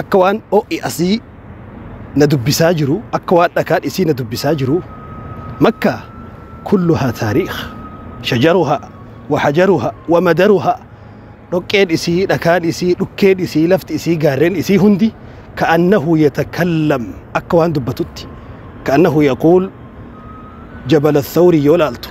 akka waan ho'i asii na dubbisaa jiru akka waan dhakaan isii na dubbisaa jiru makka kulluhaa taariikh shajaruhaa wahajaruhaa wamadaruhaa dhoqqeen isii dhakaan isii dhukkeen isii lafti isii gaarreen isii hundi ka'annahu yatakallam akka waan dubbatutti ka'annahu yaquul jabala thawri yoo laaltu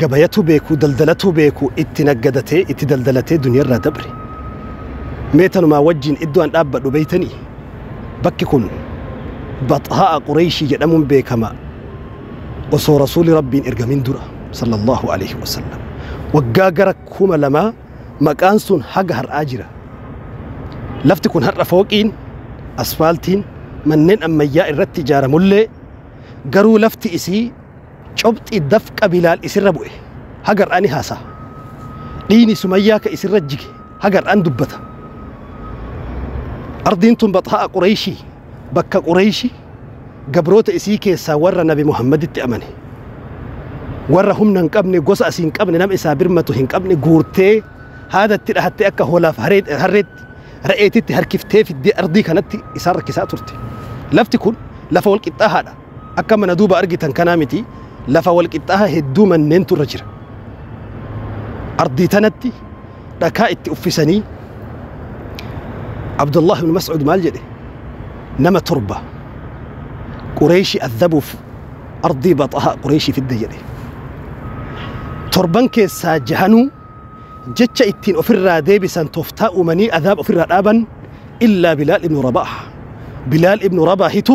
gabayatu beeku daldalatu beeku itti naggadatee itti daldalatee duniyarraa dabre mee tanumaa wajjiin iddoo an dhaabbadhu beeytanii bakki kun baxhaa'a qureeyshii jedhamuun beekama osoo rasuuli rabbiin ergamin dura sallallahu alaihi wasallam waggaa gara kuma lamaa maqaan sun haga har'aa jira lafti kun har'a fooqiin asfaaltiin manneen ammayyaa irratti ijaaramullee garuu lafti isii Cobxi dafqa Bilaal isirra bu'e haga har'aa ni haasa'a. Dhiini Sumayyaa ka isirra jige haga har'aa ni dubbata. Ardiin tun Baxhaa'a Qurayshii, bakka Qurayshi gabroota isii keessaa warra Nabi Muhammaditti amane, warra humna hin qabne, gosa asii hin qabne, nama isaa birmatu hin qabne guurtee haada itti dhahattee akka hoolaaf harreetti, re'eetitti harkiftee fiddee ardii kanatti isaan rakkisaa turte. Lafti kun lafa wal qixxaahaadha. Akka mana duuba argitan kanaa miti, lafa wal qixxaaha hedduu manneentu irra jira. Ardii tanatti dhakaa itti uffisanii Abdullah ibn Mas'ud maal jedhe? Nama torba Qureeshi adhabuuf ardii baxahaa Qureeshi fidde jedhe. Torban keessaa jahanuu jecha ittiin ofirraa deebisan toftaa uumanii adhaab ofirraa dhaaban illaa Bilaal ibn Rabaaha. Bilaal ibn Rabaahitu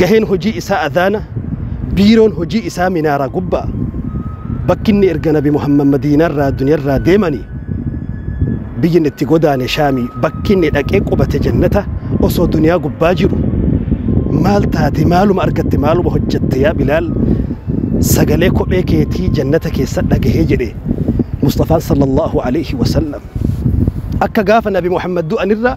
gaheen hojii isaa adhaana biiroon hojii isaa minaaraa gubbaa bakkinni erga nabi muhammad madiinarraa duniyarraa deemanii biyyinni itti godaane shaamii bakkinni dhaqee qubate jannata osoo duniyaa gubbaa jiru maal taate maaluma argatte maaluma hojjatte yaa bilaal sagalee kophee keetii jannata keessa dhagahee jedhe musxafaan sallallahu alaihi wasallam akka gaafa nabi muhammad du'anirraa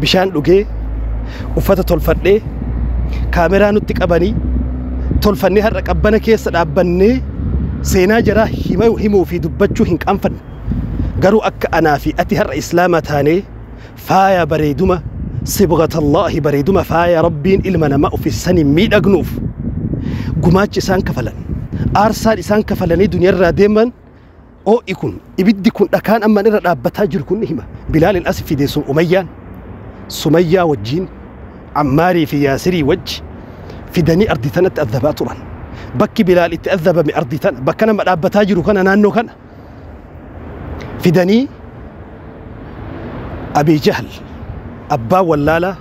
bishaan dhugee uffata tolfadhee kaameraa nutti qabanii tolfannee har'a qabbana keessa dhaabbannee seenaa jaraa hima- himuu fi dubbachuu hin qaanfanne garuu akka anaa fi ati har'a islaama taanee faaya bareeduma sibgatallaahi bareeduma faaya rabbiin ilma namaa uffisanii miidhagnuuf gumaachi isaan kafalan aarsaan isaan kafalanii duniyarraa deeman Oo'i kun, ibiddi kun dhakaan amma irra dhaabbataa jiru kun ni hima. Bilaalin as fide so Umayyaan, Sumayyaa wajjiin, Ammaarii fi Yaasirii wajji fidanii ardii tanatti azzabaa turan. Bakki Bilaal itti azzabame ardii tana, bakka nama dhaabbataa jiru kana naannoo kana fidanii Abii Jahal abbaa wallaalaa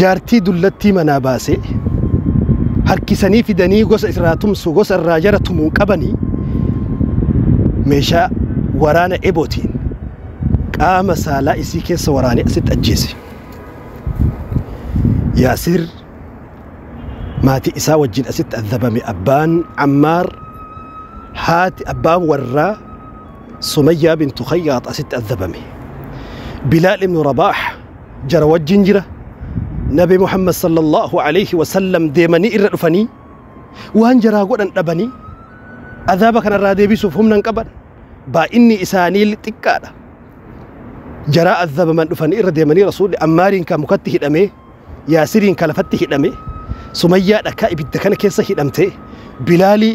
Jaartii dullattii manaa baasee harkisanii fidanii gosa irraa tumsu gosa irraa jara tumuun qabanii meeshaa waraana ebootiin qaama saalaa isii keessa waraanee asitti ajjeese. Yaasir maatii isaa wajjin asitti adabame abbaan Ammaar haati abbaan warraa Sumayyaa bintu Khayyaax asitti adabame. Bilaal ibnu Rabaax jara wajjin jira nabi muhammad sallallahu alayhi wasallam deemanii irra dhufanii waan jaraa godhan dhabanii azaaba kanarraa deebisuuf humna hin qaban baay'inni isaanii xiqqaadha jaraa azabaman dhufanii irra deemanii rasuulli ammaariin kan mukatti hidhame yaasiriin kan lafatti hidhame sumayyaa dhakaa ibidda kana keessa hidhamte bilaalii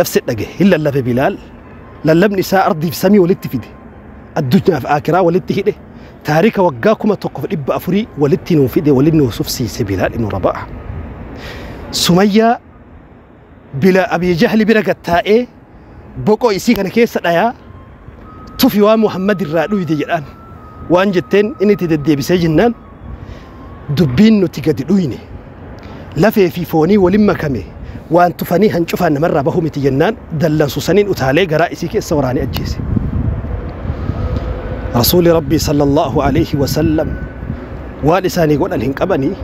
nafse dhagahe hin lallabe bilaal lallabni isaa ardiif samii walitti fide addunyaaf aakiraa walitti hidhe taarika waggaa kuma tokkoof dhibba afurii walitti nuu fide waliin nuu sufsiise bilaal ibnu rabaaha sumayyaa bila abii jahli bira gattaa'ee boqoo isii kana keessa dhayaa tufi waan Muhammad irraa dhuyde jedhaan. Waan jetteen inni itti deddeebisee jennaan dubbiin nuti gadi dhuyne lafee fi foonii walin makame waan tufanii hancufaan namarraa bahu miti jennaan dallansu saniin utaalee garaa isii keessa waraane ajjeese. Rasuuli Rabbii sallallahu alayhi wa sallam waan isaanii godhan hin qabanii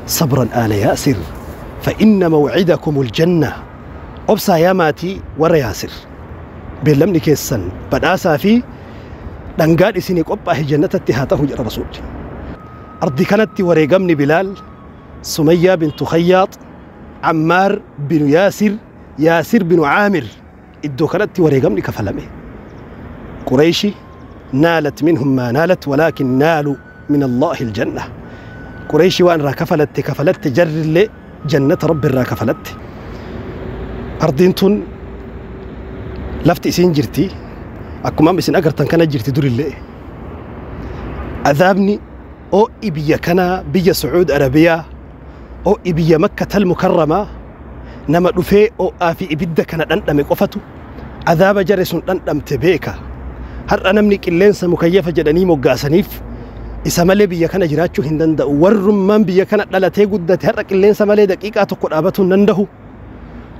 sabran aala yaasir fa inna mawcidakumul jannaa Obsaa yaa maatii warra Yaasir. Beellamni keessan badhaasaa fi dhangaan isinii qophaahe jannatatti haa tahu jedha Rasuulli. Ardii kanatti wareegamni Bilaal, Sumayyaa bintu Khayyaax, Ammaar binu Yaasir, Yaasir binu Aamir iddoo kanatti wareegamni kafalame. Qureeshi naalat minhum maa naalat walaakin naalu min Allahi aljanna Qurayshi waan irraa kafalatte kafalatte jarri illee jannata Rabbi irraa kafalatte ardiin tun lafti isiin jirti akkuma amma isin agartan kana jirti durillee azaabni oo'i biyya kanaa biyya Sucuud Arabiyaa Ho'i biyya Makkatal Mukarramaa nama dhufee ho'aa fi ibidda kana dhandhame qofatu azaaba jare sun dhandhamte beeka. Har'a namni qilleensa mukayyafa jedhanii moggaasaniif isa malee biyya kana jiraachuu hin danda'u. Warrummaan biyya kana dhalatee guddate har'a qilleensa malee daqiiqaa tokko dhaabatuu hin dandahu.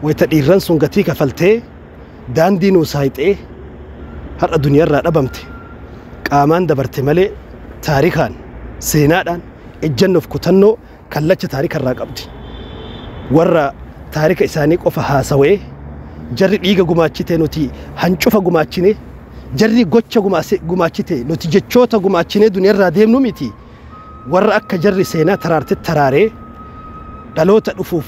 Wayita dhiirran sun gatii kafaltee. daandii nuu saayxee har'a duniyarraa dhabamte qaamaan dabarte malee taarikaan seenaadhaan ejjannoof kutannoo kallacha taarikarraa qabdi warra taarika isaanii qofa haasawee jarri dhiiga gumaachite nuti hancufa gumaachine jarri gocha gumaachite nuti jechoota gumaachine duniyarraa deemnu miti warra akka jarri seenaa taraarte taraaree dhaloota dhufuuf